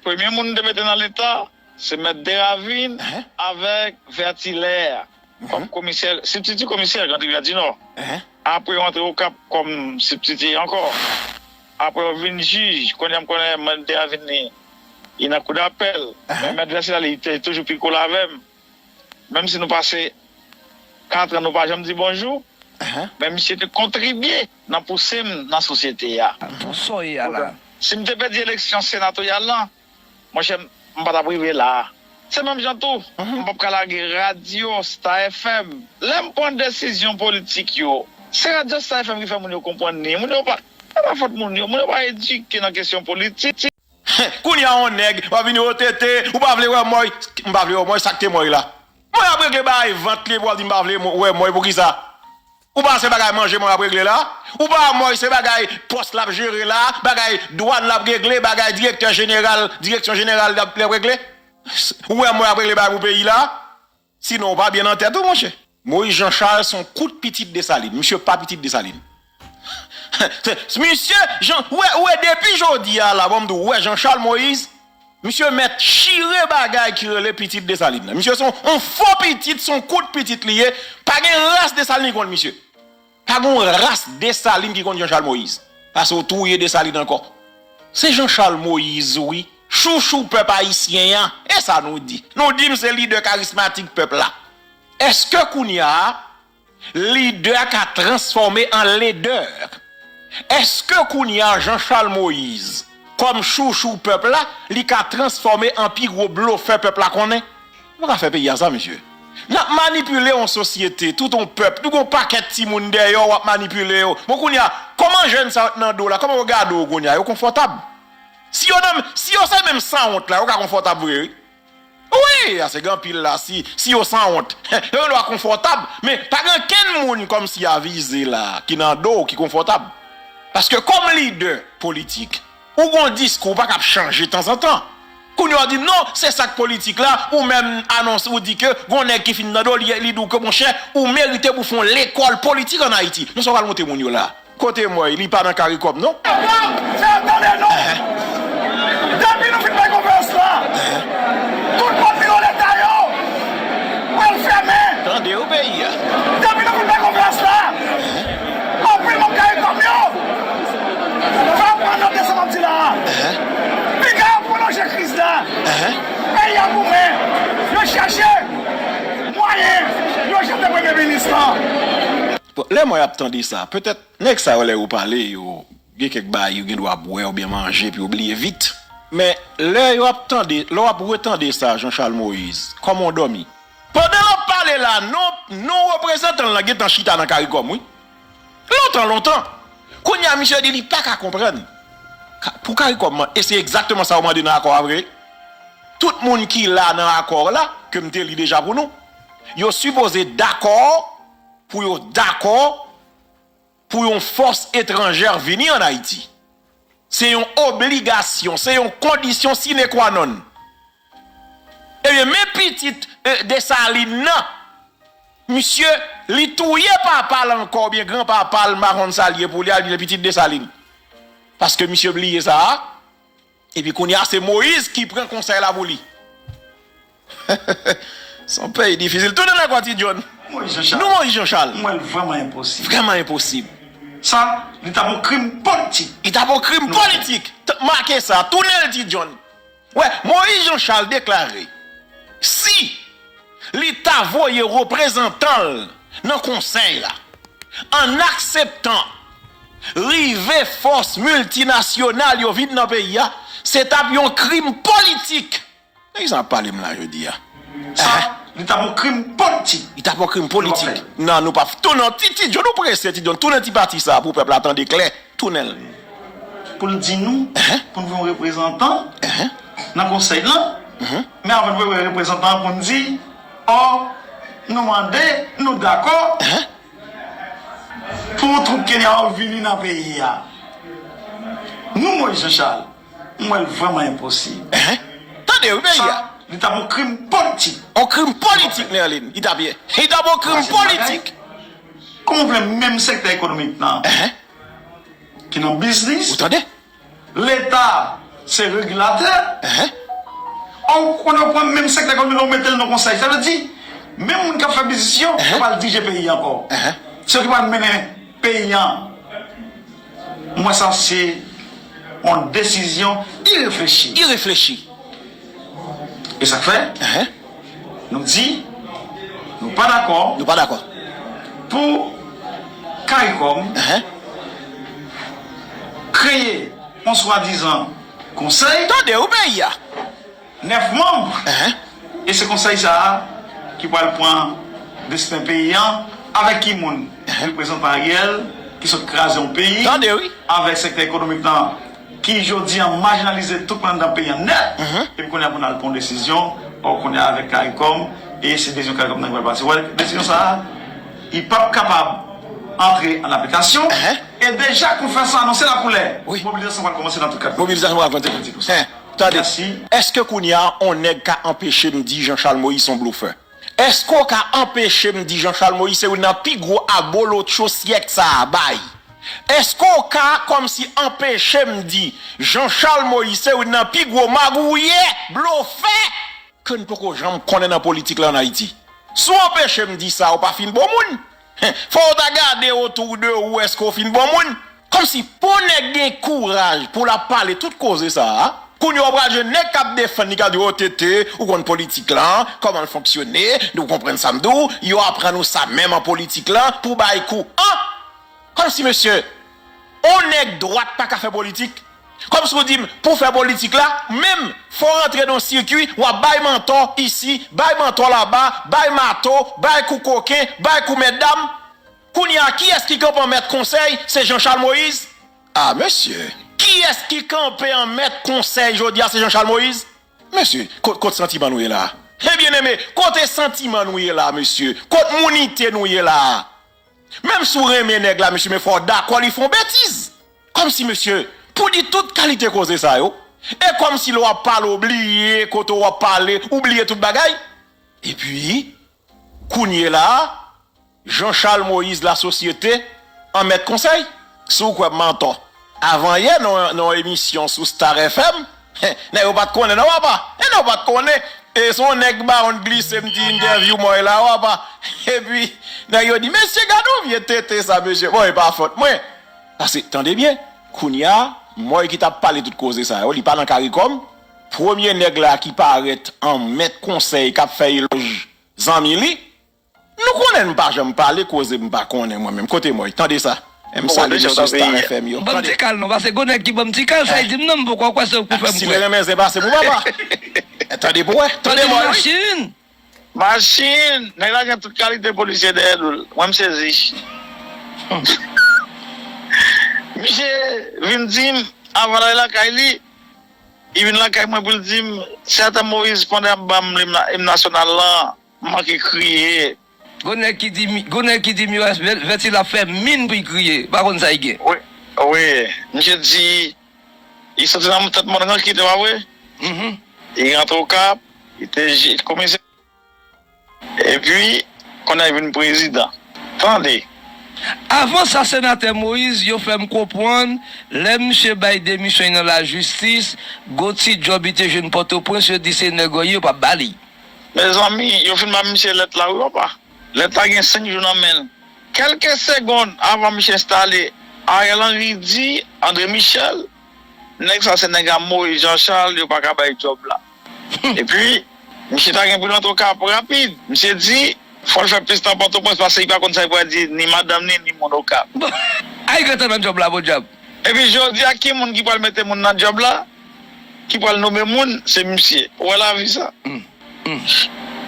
Premye moun m te mete nan leta se mèt Deravin avèk Vètilè kòm komisè, sibtiti komisè Grand Rivyè di Nò. Apre yo antre Okap kòm sibtiti ankò. Apre yo vin jij, kounye a m konnen mèt Deravin li nan kou dapèl, men mèt Vètilè li te toujou pi kole avè m. Menm si nou pase katran nou pa janm di bonjou, men misye te kontribye. nan pouse m nan sosyete a. Pou sa w ye a la. Si m te pèdi eleksyon senatoryal la, monchè, m pa t ap rive la a. Se menm jan tou, m p ap ka lage radyo Star FM. Lè m pran desizyon politik yo, se radyo Star FM ki fè moun yo konprann ni. Moun yo pa, se pa fòt moun yo, moun yo pa edike nan kesyon politik. Kounye a yon nèg w ap vini o tete, ou pa vle wè Moy. M pa vle wè Moy, sa k te Moy la? Moy ap regle bagay vant li epi w ap di m pa vle wè Moy, poukisa? Ou pa se bagay manjeman ap regle la, ou pa moy se bagay pos lap jere la, bagay dwan lap regle, bagay direktè jeneral direksyon jeneral lap regle. Ou wè moy ap regle bagay pou peyi la, si non ou pa byen nan tèt ou monchè. Moïse Jean Charles son kout pitit Dessalines misye pa pitit Dessalines misye Jean ou wè depi jodi a la banm di ou wè Jean Charles Moïse Misye mèt chire bagay ki rele pitit Dessalines nan. Misye son on fo pitit, son kout pitit li ye. Pa gen ras Dessalines ki konn misye. Pa gen yon ras Dessalines ki konn Jean Charles Moïse. Pase ou touye Dessalines ankò. Se Jean Charles Moïse wi, chouchou pèp ayisyen an. E sa nou di? Nou di m se lidè karismatik pèp la. Eske kounya a. Lidè ka transfòme an ledè. Eske kounya Jean Charles Moïse kòm chouchou pèp la li ka transfòme an pi gwo blofè pèp la konnen? Nou ka fè peyi a sa mesye. Nap manipile yon sosyete, tout yon pèp, nou gen yon pakèt timoun dèyè w wap manipile yo. Bon kounya kòman jèn sa yo t nan do w la kòman yo gade w kounya? Yo konfòtab. Si yo nan si yo se menm sanwont la yo ka konfòtab vre wi. Wi, ase gen anpil la si si yo sanwont. Yo gen dwa konfòtab, men pa gen ankenn moun kòmsi a vize la ki nan do w ki konfòtab. Paske kòm lidè politik, ou gen yon diskou ou pa kab chanje tanzantan. Kounye a ou di non se sa k politik la, ou menm anonse ou di ke gen yon nèg ki fin nan do w li di w ke monchè ou merite pou w fè yon lekòl politik an Ayiti. Men sa w pral montre moun yo la a? Kote moy li pa nan karikom non. Pam fè tande non depi nou fin fè konferans la tout pòt biro leta yo pral fèmen depi nou fin fè konferans la anpil manm karikom yo va pran note sa map di la a piga yo pwolonje kriz la peyi a goumen yo chache mwayen yo jete premye minis lan. Bon lè mwen ap tande sa, petèt nèg sa yo lè yo pale yo gen kèk bagay yo gen dwa bwè oubyen manje pou yo bliye vit. Men lè yo ap tande, lè w ap retande sa Jean Charles Moïse, kòman w dòmi? Pandan l ap pale la, non non reprezantan l lan gen tan chita nan caricom wi. Lontan lontan. Kounye a misye di li pa ka konprann. Ka, pou caricom an, e se egzakteman sa yo mande nan akò a vre. Tout moun ki la nan akò la, ke m te li deja pou nou, yo sipoze dakò, pou yo dakò pou yon fòs etranjè vini an Ayiti. Se yon obligasyon, se yon kondisyon sine kwa nonn. Ebyen men pitit Desalin nan, misye li touye papa l ankò oubyen gran papa l m pa konn sa l ye pou li a li vin pitit Desalin. Paske misye bliye sa a, Epi kounya se Moise ki pran konsèy la pou li. Son peyi difisil. Tounen nan kò ti John. Nou Moise Jean Charles. M wè l vrèman enposib. Vrèman enposib. Sa, li tap on krim politik. Li tap on krim politik. Make sa. Tounen l ti John. Wè, Moise Jean Charles deklare, si. li ta voye reprezantan l nan konsèy la. An akseptan rive fòs miltinasyonal yo vin nan peyi a, se t ap yon krim politik. Nèg sa ap pale m la jodi a. Sa, li t ap yon krim politik. Li t ap yon krim politik. Nan nou p ap. Ti John ou prese ti John tounen ti pati sa pou pèp la tande klè. tounen l pou l di nou pou n gen yon reprezantan nan konsèy lan men avan n vwe wè reprezantan an pou n di ò nou mande nou dakò pou twoup Kenya yo vini nan peyi a nou Moïse Jean Charles m wè l vrèman enposib sa li ta pou krim politik on krim politik Nerline li ta p ye li ta pou krim politik. Kòman w vle menm sektè ekonomik nan ki nan biznis, leta se regilatè, ou konn yo pran menm sektè ekonomik lan ou mete l nan konsèy. Sa vle di menm moun k ap fè biznis yo, yo pral dirije peyi an ankò. Se yo ki pral mennen peyi an. M wè sa se yon desizyon ireflechi. E sa k fè nou di nou pa dakò pou caricom kreye yon swadizan konsèy. 9 manm e se konsèy sa a ki pral pran desten peyi an avèk ki moun reprezantan Ariel ki sot kraze yon peyi avèk sektè ekonomik lan ki jodi an majinalize tout moun anndan peyi an nèt epi kounye a pou nal pran yon desizyon ò kounye a avèk karikòm e se desizyon karikòm nan ki pral pase wè desizyon sa a li pap kapab antre an aplikasyon e deja konfèransan anonse lakoulè mobilizasyon pral kòmanse nan tout 4 komin. Tande si, èske kounye a on nèg ka anpeche m di Jean Charles Moïse son blofè? Èske w ka anpeche m di Jean Charles Moïse se youn nan pi gwo abolotcho syèk sa a bay? Èske w ka kòmsi anpeche m di Jean Charles Moïse se youn nan pi gwo magouyè, blofè, ke n poko janm konnen nan politik la an Ayiti? Si w anpeche m di sa, ou pa fin bon moun. Fò ou ta gade otou de ou eske ou fin bon moun? Kòmsi. Pou nèg gen kouraj pou lap pale tout koze sa a, kounye a ou pral jwenn nèg kap defann li kap di oh TT ou konn politik lan, kòman l fonksyone, nou konprann sa m di w, yo aprann ou sa menm an politik lan pou w bay kou anh! Kòmsi mesye On nèg dwat paka fè politik? Kòm si w di m, pou w fè politik la, menm, fò w rantre nan yon sikui, w ap bay mantò isi, bay mantò laba, bay mato, bay kou koken, bay kou mètdam. Kounye a, kiyès ki kanpe an mèt konsèy, se Jan Chal Moyiz? A, mesye! Kiyès ki kanpe an mèt konsèy jodi a, se Jan Chal Moyiz? Mesye, kot, kot santiman nou ye la a? He, byeneme, kote santiman nou ye la a, mesye? Kot mounite nou ye la a? Menm si w renmen nèg la mesye men fò w dakò li fè yon betiz. Kòmsi mesye pou di tout kalite koze sa yo e kòmsi lè w ap pale w bliye kote w ap pale ou bliye tout bagay. Epi kounyela a Jean Charles Moïse lasosyete an mèt konsèy? Si w kwè m antò. Avan yè nan yon emisyon sou Star FM, nèg yo pat konnen non papa, nèg yo pat konnen, e se yon nèg baronne glise m ti entèvyou mòy la papa, epi nèg yo di mesye gad yon vye tete sa mesye, bon e pa fòt mwen, pase tande byen kounya mòy ki tap pale tout koze sa yo li pa nan karikòm, premye nèg la ki parèt an mèt konsèy kap fè elòj zanmi li. Nou konnen m pa janm pale koze m pa konnen mwen menm kote mòy tande sa M salye mesye star FM yo Banm ti kal non pase gwo nèg ki banm ti kal sa e dim nan m poko kwè se ou k pou fè m kwè. Sile renmen zen pase pou papa e tande pou wè tande mòy wi. Machin! Nèg la gen tout kalite polisye dèyè doul. Mwen m sezi. Misye vin dim avan lale lakay li, li vin lakay mwen poul dim se ata Moise Pande ap banm lim nasyonal lan. M manke kriye. Gon nèg ki di gon nèg ki di Mires vèti lap fè min pou y kriye pa konn sa y gen. Wi misye di li soti nan tèt mòn ranki te pa vre li rantre okap li te jij komisè epi kounye a li vin prezidan tande. Avan sa senatè Moïse yo fè m konpwann lè misye bay demisyon y nan lajistis gon ti djòb li te jwenn pòtoprens yo di se nèg ò yo pa ba li. Mezanmi yo fin ba misye lèt la wi papa. Lèt la gen 5 jou nan menl. Kèlke segond avan misye enstale Ariel Henry di Andre Michel nèg sa se nèg a Moise Jean Charles yo paka bay djòb la. Epi misye ta gen pou l antre okap rapid. Misye di fòl fè plis tan pòtoprens pase li pa konn sa li pral di ni madanm li ni moun okap. Bon! Ariel gentan nan djòb la podyab. Epi jodia ki moun ki pral mete moun nan djòb la? ki pral nome moun se misye ou wè lavi sa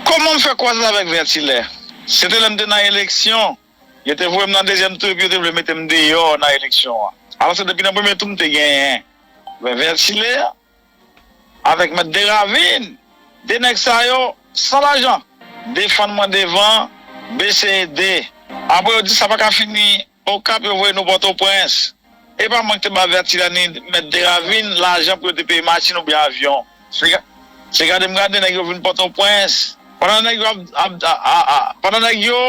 kòman m fè kwaze avèk vètilè se te lè m te nan eleksyon yo te voye m nan dezyèm tou epi yo te vle mete m deyò nan eleksyon an alò se depi nan premye tou m te genyen men vètilè avèk mèt deravin de nèg sa yo san lajan defann mwen devan bese ede apre yo di sa pa ka fini. Okap yo voye nou pòtoprens. Epa mank te bave atilani mèt deravin lajan pou yo te peye machin oubyen avyon se gade m gade nèg yo vin pòtoprens pandan nèg yo ap pandan nèg yo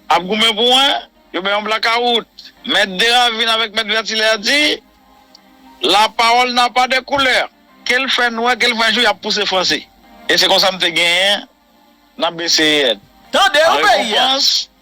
ap goumen pou wen yo bay yon blakawout mèt deravin avèk mèt vètilè di la pawòl na pa de koulè kel fè nwè kel fè jou yap pouse franse e se konsa m te genyen nan BCEN tande ou peyi a.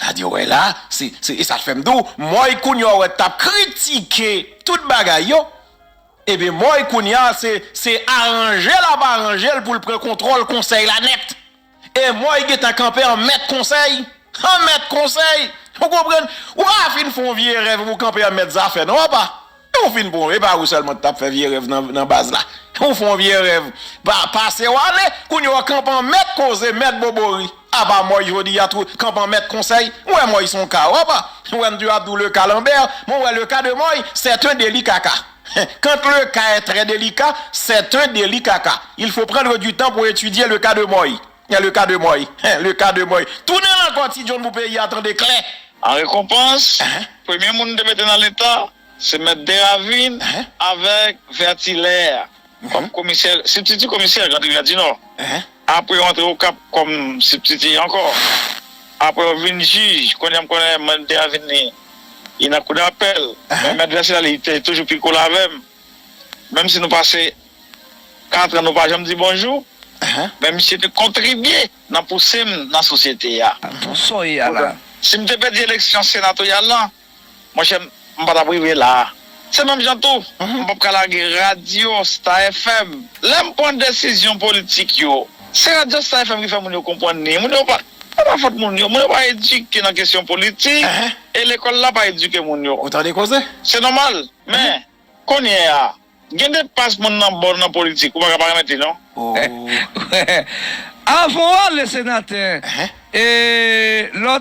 Sa di w wè la, se, se, e sa k fè m di w, Mòy kounya w wè t ap kritike tout bagay yo, ebyen Mòy kounya se, se aranje l ap aranje l pou l pran kontwòl Konsèy la nèt. E Mòy gentan kanpe an mèt Konsèy, an mèt Konsèy! Ou konprann? Ou pa fin fè yon vye erè epi pou w kanpe an mèt zafè non, apa! Ou fin bon e pa ou selman ki tap fè vye rèv nan baz la ou fon vye rèv pasew ale kounye ou kan pan mèt koze mèt bobori apa mòy jodi a tou kan pan mèt konsèy ou wè mòy son ka opa ou wèm di ap di ou le ka lanbèr men ou wè le ka de mòy c'est un deli kaka quand le ka est très delicat c'est un deli kaka il faut prendre du temps pour étudier le cas de mòy. Hein le cas de moi hein le cas de moi Tounen l ankò ti John pou peyi a tande klè. An rekonpans, premye moun te mete nan leta, se mèt Deravin avèk Vètilè kòm komisè, sibtiti komisè Grand Rivyè di Nò. Apre yo antre Okap kòm sibtiti ankò. Apre yo vin jij, kounye a m konnen mèt Deravin li li nan kou dapèl, men mèt Vètilè li te toujou pi cool avè m, menm si nou pase. Katran nou pa janm di bonjou men misye te kontribye nan pouse m nan sosyete a. Pou sa w ye a la. Si m te pèdi eleksyon senatoryal lan, monchè m pa t ap rive la a. Se menm jan tou, m p ap ka lage radyo Star FM. Lè m pran desizyon politik yo, se radyo Star FM ki fè moun yo konprann ni. Moun yo pa, se pa fòt moun yo. Moun yo pa edike nan kesyon politik e lekòl la pa edike moun yo. Ou tande koze? Se nòmal. Men, kounye a. Gen de pas moun nan bon nan politik ou paka pa remèt li non. Ooh avan w ale senatè e lè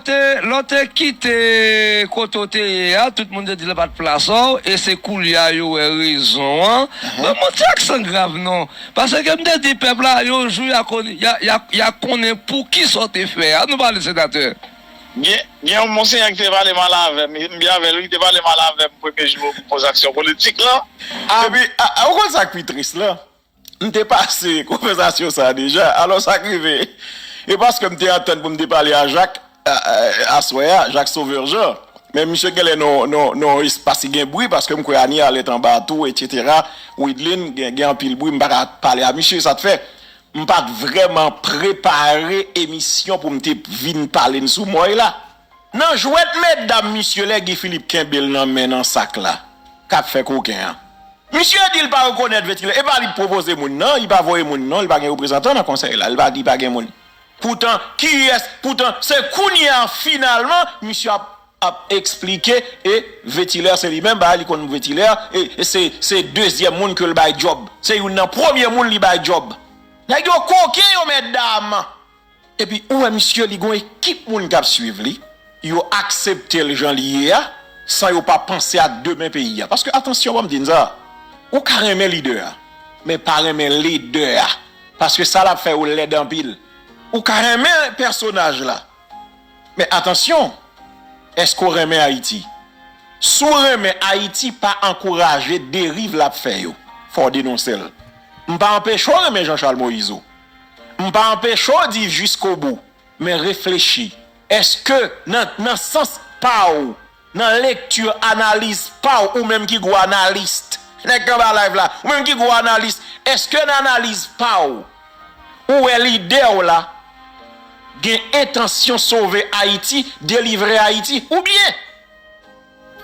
w te kite kote w te ye a tout moun te di l pat plas w e se koulye a yo wè rezon an ban m yon ti aksan grav non paske m te di pèp la yon jou ya konnen poukisa w te fè a nou pale senatè. Gen gen yon monsenyè ki te pale mal avè m, m byen avè l wi, li te pale mal avè m premye jou m koz aksyon politik lan. Epi, ou konn sa k pi tris lan? M te pase konvèsasyon sa a deja. Alò sa k rive? E paske m te antann pou m te pale a Jak aswè a, Jak Sovè Jan, men misye genlè nan yon espas ki gen bri paske m kwè Anie Arlette anba a tou, etsetera, Wideline gen anpil bri m pa ka pale a misye sa k fè. M pat vrèman prepare emisyon pou m te vin pale n sou Moy la nan jwèt medam misye lè Guy Philippe kenbe l nan men nan sak la kap fè koken an misye di l pa rekonèt ventilatè epa li pwopoze moun nan li pa voye moun non li pa gen reprezantan nan konsèy la li pa di pa gen moun poutan kiyès poutan se kounye a finalman misye ap ap esplike e vetiler se li menm bay li konn vetiler e se se dezyèm moun kel bay djob se youn nan premye moun li bay djob. Nèg yo koken yo mètdam. Epi ou wè misye li gon ekip moun kap swiv li, yo akseptel jan li ye a san yo pa panse ak demen peyi a. Paske atansyon banm di n sa, ou ka renmen lidè a men pa renmen ledè a paske sa lap fè yo lèd anpil. Ou ka renmen pèsonaj la Men atansyon! Eske w renmen Ayiti? Si w renmen Ayiti pa ankouraje deriv l ap fè yo. Fò w denonse l. M pa anpeche w renmen Jean-Charles Moïse ou. M pa anpeche w di jiskobou. Men reflechi. Eske nan sans pa w Nan lecture analiz paw ou menm ki gwo analyst nèg k anba live la ou menm ki gwo analyst eske nan analiz paw ou wè lidè w la gen entansyon sove ayiti delivre ayiti oubyen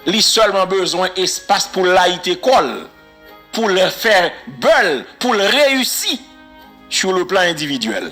li sèlman bezwen espas poul layite kòl poul fè bèul poul reyisi sou le plan endividyèl.